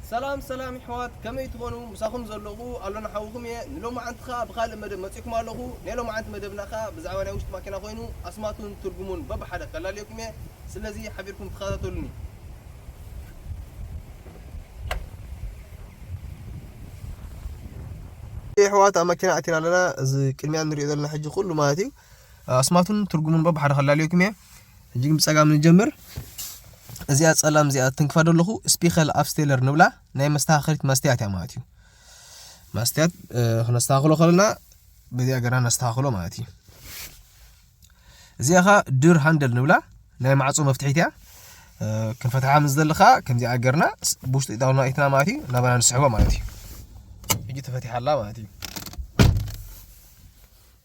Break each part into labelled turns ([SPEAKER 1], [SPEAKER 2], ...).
[SPEAKER 1] ሰላም ሰላም ይሕዋት ከመይ ትኾኑ ምሳኹም ዘለኹ ኣሎና ሓውኹም እየ ንሎማዓንቲ ኸኣ ብኻልእ መደብ መጺእኩም ኣለኹ ናይ ሎማዓንቲ መደብና ኸኣ ብዛዕባ ናይ ውሽጢ ማኪና ኮይኑ ኣስማቱን ትርጉሙን በብሓደ ከላልየኩም እየ ስለዚ ሓቢርኩም ተኸታተሉኒ ይሕዋት ኣብ መኪና ኣቲና ኣለና እዚ ቅድሚያ ንሪኦ ዘለና ሕጂ ኩሉ ማለት እዩ ኣስማቱን ትርጉሙን እሞ ብሓደ ከላልየኩም እየ ሕጂ ግን ብጸጋም ንጀምር እዚኣ ጸላም እዚኣ ትንክፋ ደለኹ ስፒኸል ኣፍስቴለር ንብላ ናይ መስተኻኸሪት መስትያት እያ ማለት እዩ መስትያት ክነስተኻኽሎ ከለና በዚኣ ገና ነስተኻኽሎ ማለት እዩ እዚኣ ኸ ድር ሃንደል ንብላ ናይ ማዕፆ መፍትሒት እያ ክንፈትሓ ምስ ዘለኻ ከምዚኣ ገርና ብውሽጢ ኢጣውና ኢትና ማለት እዩ ናባና ንስሕቦ ማለት እዩ ሕጂ ተፈቲሓ ኣላ ማለት እዩ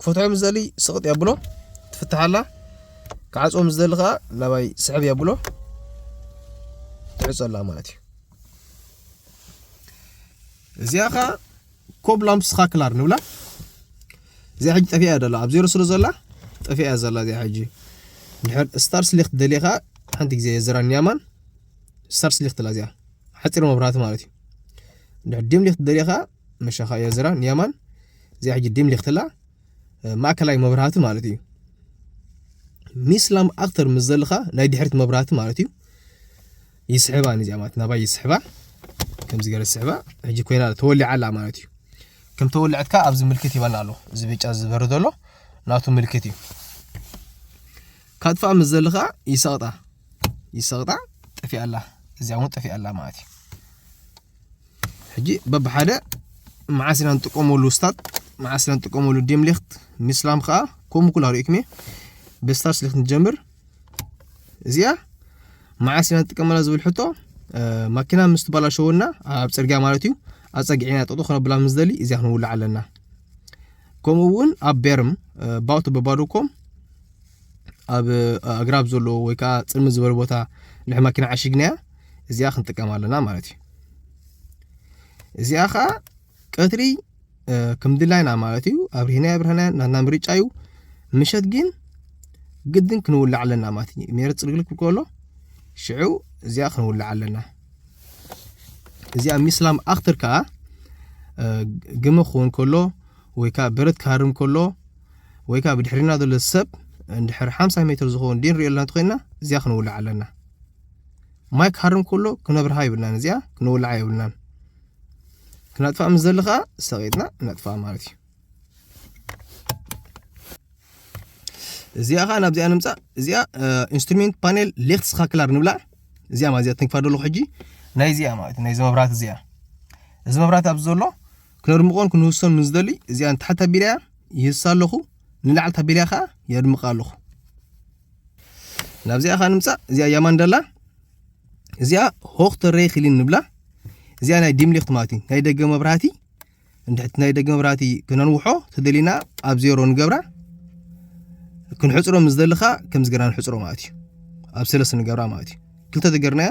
[SPEAKER 1] ክፈትሖ ምስ ዝደሊ ስቕጥ የብሎ ትፍታሕ ኣላ ክዓፅዎ ምስ ዝደሊ ከዓ ናባይ ስሕብ የብሎ ትዕፆ ኣላ ማለት እዩ እዚኣ ከዓ ኮብ ላምፕስ ካክላር ንብላ እዚኣ ሕጂ ጠፊኣ እያ ዘላ ኣብ ዜሮ ስለ ዘላ ጠፊኣ እያ ዘላ እዚኣ ሕጂ ድሕር ስታር ስሊክ ትደልየ ከዓ ሓንቲ ግዜ የዘራን ያማን ስታር ስሊክ ትላ እዚኣ ሓፂር መብራህቲ ማለት እዩ ድሕር ዲም ሊክ ትደልየ ከዓ መሸኻ እያ ዝራ ንየማን እዚኣ ሕጂ ዲም ሊክትላ ማእከላይ መብራህቲ ማለት እዩ ሚስላም ኣክተር ምስ ዘለኻ ናይ ድሕሪት መብራህቲ ማለት እዩ ይስሕባ ንዚኣ ማለት ናባይ ይስሕባ ከምዚ ገረ ዝስሕባ ሕጂ ኮይና ተወሊዓ ኣላ ማለት እዩ ከም ተወልዐትካ ኣብዚ ምልክት ይበና ኣሎ እዚ ብጫ ዝበሪ ዘሎ ናቱ ምልክት እዩ ካጥፋኣ ምስ ዘለኻ ይሰቕጣ ይሰቕጣ ጠፊኣ ኣላ እዚኣ እውን ጠፊኣ ኣላ ማለት እዩ ሕጂ በብሓደ መዓስ ኢና ንጥቀመሉ ስታት መዓስ ኢና ንጥቀመሉ ዲምሊክት ሚስላም ከዓ ከምኡ ኩላ ሪእኩም እየ ብስታርስ ሊክት ንጀምር እዚኣ መዓስ ኢና ንጥቀመላ ዝብል ሕቶ ማኪና ምስ ትበላሸወና ኣብ ፅርግያ ማለት እዩ ኣፀጊዕና ጠጡ ክነብላ ምስ ደሊ እዚኣ ክንውልዕ ኣለና ከምኡ እውን ኣብ ቤርም ባውቶ በባዶኮም ኣብ ኣግራብ ዘለዎ ወይ ከዓ ፅልሚ ዝበለ ቦታ ንሕ ማኪና ዓሽግናያ እዚኣ ክንጥቀም ኣለና ማለት እዩ እዚኣ ከዓ ቀትሪ ከም ድላይና ማለት እዩ ኣብርሂና ኣብርህና ናትና ምርጫ እዩ ምሸት ግን ግድን ክንውላዕ ኣለና ማለት እዩ ሜረ ፅልግልክ ከሎ ሽዑ እዚኣ ክንውላዕ ኣለና እዚኣ ሚስላም ኣክትር ከዓ ግመ ክኸውን ከሎ ወይ ከዓ በረት ክሃርም ከሎ ወይ ከዓ ብድሕሪና ዘሎ ሰብ እንድሕር ሓምሳ ሜትር ዝኸውን ዲን ሪኦ ኣለና ተኮይንና እዚኣ ክንውላዕ ኣለና ማይ ክሃርም ከሎ ክነብርሃ ይብልናን እዚኣ ክንውልዓ የብልናን ክነጥፋ ምስ ዘለ ከዓ ሰቂጥና ነጥፋ ማለት እዩ እዚኣ ከዓ ናብዚኣ ንምፃእ እዚኣ ኢንስትሩሜንት ፓኔል ሌክት ስካክላር ንብላ እዚኣ ማለት እዚኣ ትንክፋ ደለኹ ሕጂ ናይ እዚኣ ማለት እዩ ናይዚ መብራት እዚኣ እዚ መብራት ኣብዚ ዘሎ ክነድምቖን ክንውሶን ምስ ዝደሊ እዚኣ ንታሕቲ ታቢላያ ይህሳ ኣለኹ ንላዕሊ ታቢላያ ከዓ የድምቃ ኣለኹ ናብዚኣ ከዓ ንምፃእ እዚኣ ያማንደላ እዚኣ ሆክተ ረይ ክሊን ንብላ እዚኣ ናይ ዲምሊክት ማለት እዩ ናይ ደገ መብራህቲ እንድሕቲ ናይ ደገ መብራህቲ ክነንውሖ ተደሊና ኣብ ዜሮ ንገብራ ክንሕፅሮ ምስ ደልኻ ከምዚ ገርና ንሕፅሮ ማለት እዩ ኣብ ሰለስተ ንገብራ ማለት እዩ ክልተ ተገርናያ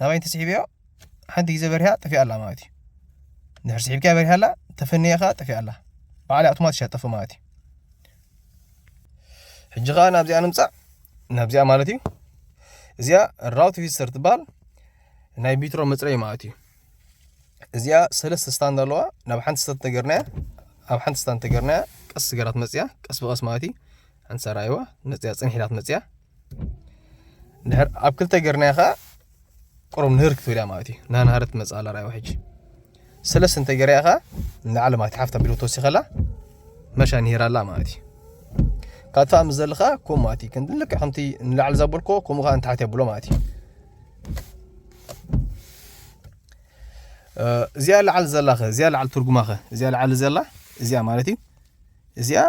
[SPEAKER 1] ናበይ እንተስሒብዮ ሓንቲ ግዜ በሪሃ ጠፊኣ ኣላ ማለት እዩ ድሕር ስሒብካ በሪሃ ኣላ ተፈንየ ከዓ ጠፊኣ ኣላ በዓል ኣውቶማቲሽ እያ ጠፍእ ማለት እዩ ሕጂ ከዓ ናብዚኣ ንምፃእ ናብዚኣ ማለት እዩ እዚኣ ራውት ቪስተር ትበሃል ናይ ቢትሮ መፅረይ ማለት እዩ እዚኣ ሰለስተ ስታንድ ኣለዋ ናብ ሓንቲ ስታት ተገርናያ ኣብ ሓንቲ ስታንድ ተገርናያ ቀስ ገራት መፅያ ቀስ ብቀስ ማለት እዩ ኣንሰራይዋ መፅያ ፅንሒላት መፅያ ድሕር ኣብ ክልተ ጌርናያ ከኣ ቁሩብ ንህር ክትብል እያ ማለት እዩ ናናሃረት ትመፅእ ኣላ ርኣይዋ ሕጂ ስለስ እንተ ጌርያ ከኣ ንላዕሊ ማለት እዩ ሓፍታ ቢሎ ተወሲኸላ መሻ ንሂር ኣላ ማለት እዩ ካብ ትፋእ ምስ ዘልኻ ከምኡ ማለት እዩ ክንዲ ልክዕ ከምቲ ንላዕሊ ዘበልኮ ከምኡ ከዓ ንታሕቲ የብሎ ማለት እዩ እዚኣ ላዓል ዘላኸ እዚኣ ላዓል ትርጉማኸ እዚኣ ላዓል ዘላ እዚኣ ማለት እዩ እዚኣ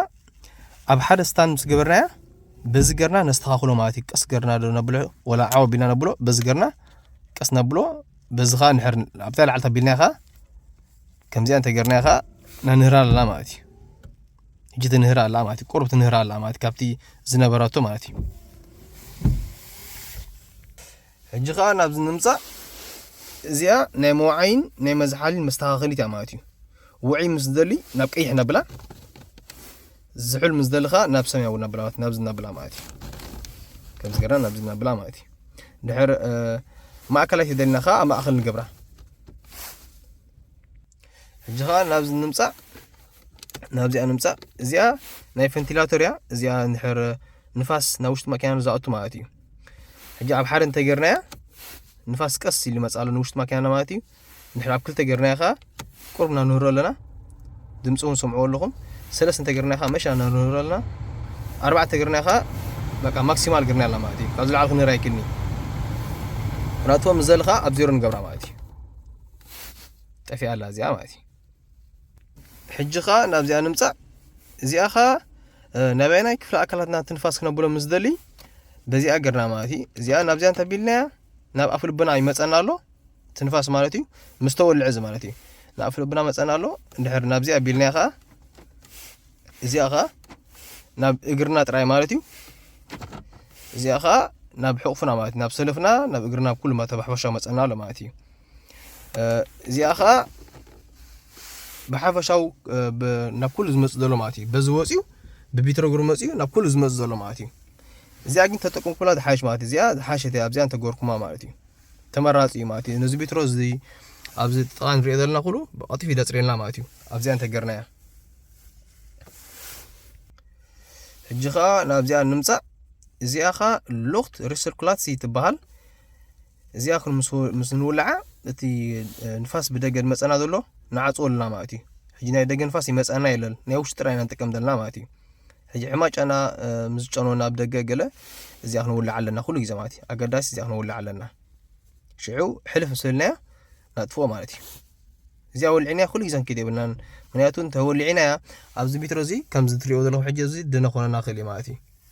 [SPEAKER 1] ኣብ ሓደ ስታን ምስ ገበርናያ በዚ ገርና ነስተኻኽሎ ማለት እዩ ቀስ ገርና ዶ ነብሎ ወላ ዓው ኣቢልና ነብሎ በዚ ገርና ቀስ ነብሎ በዚ ከዓ ንሕር ኣብታ ላዕልታ ኣቢልና ከዓ ከምዚኣ እንተገርና ከዓ ነንህራ ኣለና ማለት እዩ ሕጂ ትንህራ ኣላ ማለት እዩ ቁርብ ትንህራ ኣላ ማለት ካብቲ ዝነበረቶ ማለት እዩ ሕጂ ከኣ ናብዚ ንምጻእ እዚኣ ናይ መውዓይን ናይ መዝሓሊን መስተኻኸሊት እያ ማለት እዩ ውዕይ ምስ ዝደሊ ናብ ቀይሕ ነብላ ዝሑል ምስ ዝደሊ ከኣ ናብ ሰማያዊ ነብላ ማለት ናብዚ ነብላ ማለት እዩ ከምዚ ገርና ናብዚ ነብላ ማለት እዩ ድሕር ማእከላይ ተደሊና ከኣ ኣብ ማእኸል ንገብራ ሕጂ ከኣ ናብዚ ንምጻእ ናብዚኣ ንምፃእ እዚኣ ናይ ቨንቲላቶር እያ እዚኣ ንድሕር ንፋስ ናብ ውሽጢ ማኪና ንዝኣቱ ማለት እዩ ሕጂ ኣብ ሓደ እንተጌርናያ ንፋስ ቀስ ኢሉ ይመፅእ ኣሎ ንውሽጢ ማኪናና ማለት እዩ ንድሕር ኣብ ክልተ ጌርናያ ከዓ ቁርብ ኢና ንህሮ ኣለና ድምፂ እውን ሰምዕዎ ኣለኹም ሰለስተ እንተጌርናያ ከዓ መሻ ንህሮ ኣለና ኣርባዕተ ጌርናያ ከዓ በቃ ማክሲማል ጌርና ኣላ ማለት እዩ ካብ ዝለዓል ክንህር ኣይክልኒ ናቶም ንዘሊ ከዓ ኣብ ዜሮ ንገብራ ማለት እዩ ጠፊኣ ኣላ እዚኣ ማለት እዩ ሕጂ ከኣ ናብዚኣ ንምጻእ እዚኣ ከኣ ናበየናይ ክፍሊ ኣካላትና ትንፋስ ክነብሎ ምስ ደሊ በዚኣ ገርና ማለት እዩ እዚኣ ናብዚኣ እንተቢልናያ ናብ ኣፍ ልብና ይመፀና ኣሎ ትንፋስ ማለት እዩ ምስ ተወልዐ እዚ ማለት እዩ ናብ ኣፍ ልብና መፀና ኣሎ እንድሕር ናብዚኣ ቢልናያ ከዓ እዚኣ ከዓ ናብ እግርና ጥራይ ማለት እዩ እዚኣ ከዓ ናብ ሕቑፍና ማለት እዩ ናብ ሰለፍና ናብ እግርና ኩሉ ተባሕባሻ መፀና ኣሎ ማለት እዩ እዚኣ ከዓ ብሓፈሻው ናብ ኩሉ ዝመፅእ ዘሎ ማለት እዩ በዚ ወፅዩ ብቢትረግሩ መፅዩ ናብ ኩሉ ዝመፅእ ዘሎ ማለት እዩ እዚኣ ግን ተጠቅምኩላ ዝሓይሽ ማለት እዩ እዚኣ ዝሓሸት እያ ኣብዚኣ እንተገርኩማ ማለት እዩ ተመራፂ እዩ ማለት እዩ ነዚ ቢትሮ እዚ ኣብዚ ጥቃ ንሪኦ ዘለና ኩሉ ብቐጢፍ ይደፅርየልና ማለት እዩ ኣብዚኣ እንተገርናያ ሕጂ ከዓ ናብዚኣ ንምፃእ እዚኣ ከዓ ሉክት ሪሰርኩላትሲ ትበሃል እዚኣ ኩን ምስ ምስ ንውልዓ እቲ ንፋስ ብደገ ዝመጸና ዘሎ ንዓጽዎ ኣለና ማለት እዩ ሕጂ ናይ ደገ ንፋስ ይመጸና የለን ናይ ውሽጢ ጥራይ ኢና ንጥቀም ዘለና ማለት እዩ ሕጂ ዕማጫና እ፣ ምስ ዝጨነወና ኣብ ደገ ገለ እዚኣ ክንውልዓ ኣለና ኩሉ ግዜ ማለት እዩ ኣገዳሲ እዚኣ ክንውልዓ ኣለና ሽዑ ሕልፍ ምስ በልናያ ናጥፍኦ ማለት እዩ እዚኣ ወልዒናያ ኩሉ ግዜ ክንከይድ የብልናን ምክንያቱ እንተወሊዒናያ ኣብዚ ሜትሮ እዚ ከምዚ ትሪኦ ዘለኹም ሕጂ እዚ ደነ ኮነና ክእል እዩ ማለት እዩ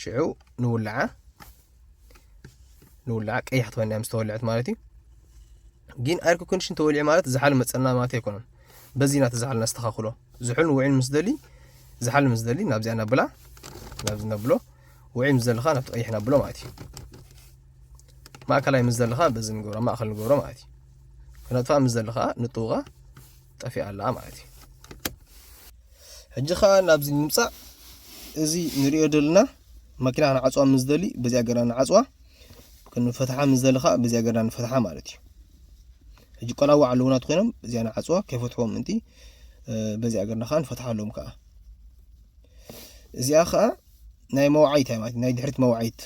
[SPEAKER 1] ሽዑ ንውልዓ ንውልዓ ቀያሕ ትኾይና ምስ ተወልዐት ማለት እዩ ግን ኣይር ኮንዲሽን ተወሊዑ ማለት ዝሓሉ መፀና ማለት ኣይኮነን በዚ ኢና ተዝሓሉ ነስተኻኽሎ ዝሑል ውዒል ምስ ደሊ ዝሓሉ ምስ ደሊ ናብዚኣ ነብላ ናብዚ ነብሎ ውዒል ምስ ዘለኻ ናብቲ ቀይሕ ነብሎ ማለት እዩ ማእከላይ ምስ ዘለኻ በዚ ንገብሮ ማእኸል ንገብሮ ማለት እዩ ክነጥፋ ምስ ዘለኻ ንጥውቓ ጠፊኣ ኣላ ማለት እዩ ሕጂ ከዓ ናብዚ ንምፃእ እዚ ንሪኦ ዘለና መኪና ክንዓፅዋ ምስ ደሊ በዚኣ ገርና ንዓፅዋ ክንፈትሓ ምስ ደሊ ከዓ በዚኣ ገርና ንፈትሓ ማለት እዩ ሕጂ ቆላዋ ኣለውናት ኮይኖም እዚኣ ንዓፅዋ ከይፈትሕዎ ምእንቲ በዚኣ ገርና ከዓ ንፈትሓ ኣለዎም ከዓ እዚኣ ከዓ ናይ መውዓይት እያ ማለት ናይ ድሕሪት መውዓይት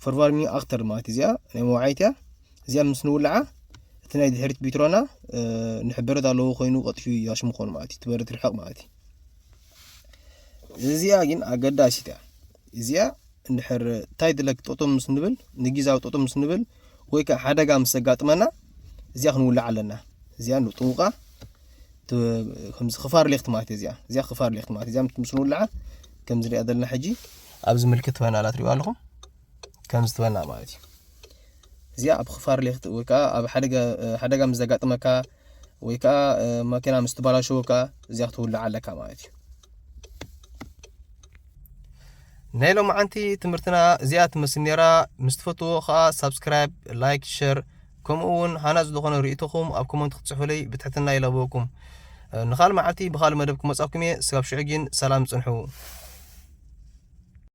[SPEAKER 1] ፈርቫርሚ ኣክተር ማለት እዚኣ ናይ መውዓይት እያ እዚኣ ምስ ንውልዓ እቲ ናይ ድሕሪት ቢትሮና ንሕበረት ኣለዎ ኮይኑ ቀጢፉ ያሽ ምኾኑ ማለት እዩ ትበርድ ርሕቕ ማለት እዩ እዚኣ ግን ኣገዳሲት እያ እዚኣ እንድሕር እንታይ ድለክ ጠጦም ምስ ንብል ንጊዛዊ ጠጦም ምስ ንብል ወይ ከዓ ሓደጋ ምስ ዘጋጥመና እዚኣ ክንውልዕ ኣለና እዚኣ ንጥውቃ ከምዚ ክፋር ሌክት ማለት እያ እዚኣ እዚኣ ክፋር ሌክት ማለት እዚኣ ምስ ንውልዓ ከምዚ ንሪኣ ዘለና ሕጂ ኣብዚ ምልክት ትበና ኣላ ትሪእዋ ኣለኹም ከምዚ ትበና ማለት እዩ እዚኣ ኣብ ክፋር ሌክት ወይ ከዓ ኣብ ሓደጋ ምስ ዘጋጥመካ ወይ ከዓ መኪና ምስ ትበላሸወካ እዚኣ ክትውልዓ ኣለካ ማለት እዩ ናይ ሎምዓንቲ ትምህርትና እዚኣ ትመስል ኔራ ምስ ትፈትዎ ከኣ ሳብስክራይብ ላይክ ሸር ከምኡ ውን ሃናጽ ዝኾነ ርእይቶኹም ኣብ ኮመንት ክትጽሑለይ ብትሕትና ይላበወኩም ንኻል መዓልቲ ብኻል መደብ ክመጻኩም እየ ስጋብ ሽዑ ጊን ሰላም ጽንሑ።